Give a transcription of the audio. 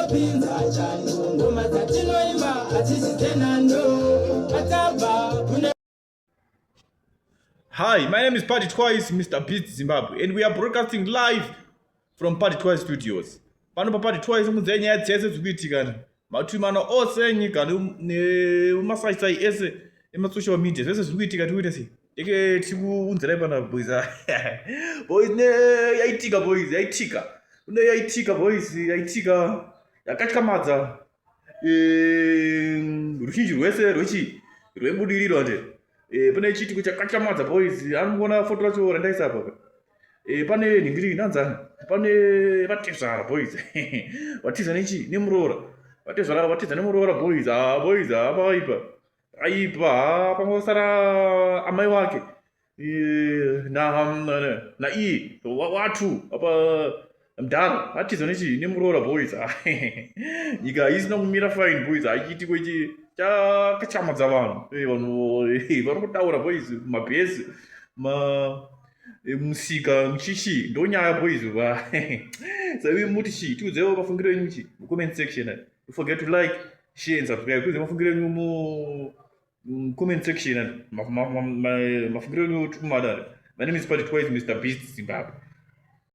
Pinza changu ngoma dzatinoimba hadzisi dzenhando atabva kune Hi, my name is Party Twice, Mr. Beat Zimbabwe, and we are broadcasting live from party twice studios pano paparty twice mudzai nyaya dzese dziri kuitikana matwimano ose enyika nemasaisai ese emasocial media zvese zviri kuitika tiri kuita sei eke tiri kuunzirai pana boys boys ne yaitika boys yaitika kune yaitika boys yaitika yakatyamadza ehm, ruzhinji rwese rwechi rwebudiriro nde eh, pane chiitiko chakatyamadza boys anongona foto racho randaisa apaka e, pane nhingiringi ndanzani pane vatezvara boys vatiza nechi nemuroora vatezvara vatiza nemuroora boys haa boys haa pavaipa aipa haa pamwe vasara amai wake e, na na iye watu apa mdhara hatiza nechi nemuroora boys nyika haisina kumira fine boys haichiitiko ichi chakachamadza vanhu eh, vanhu eh, vari kutaura boys mabhesi ma eh, musika muchichi ndonyaya boys va saivi muti chi tiudzewo mafungiro enyu chi mucomment section forget to like share and subscribe tiudze mafungiro enyu mu comment section mafungiro enyu tikumadare my name is party twice mr beast zimbabwe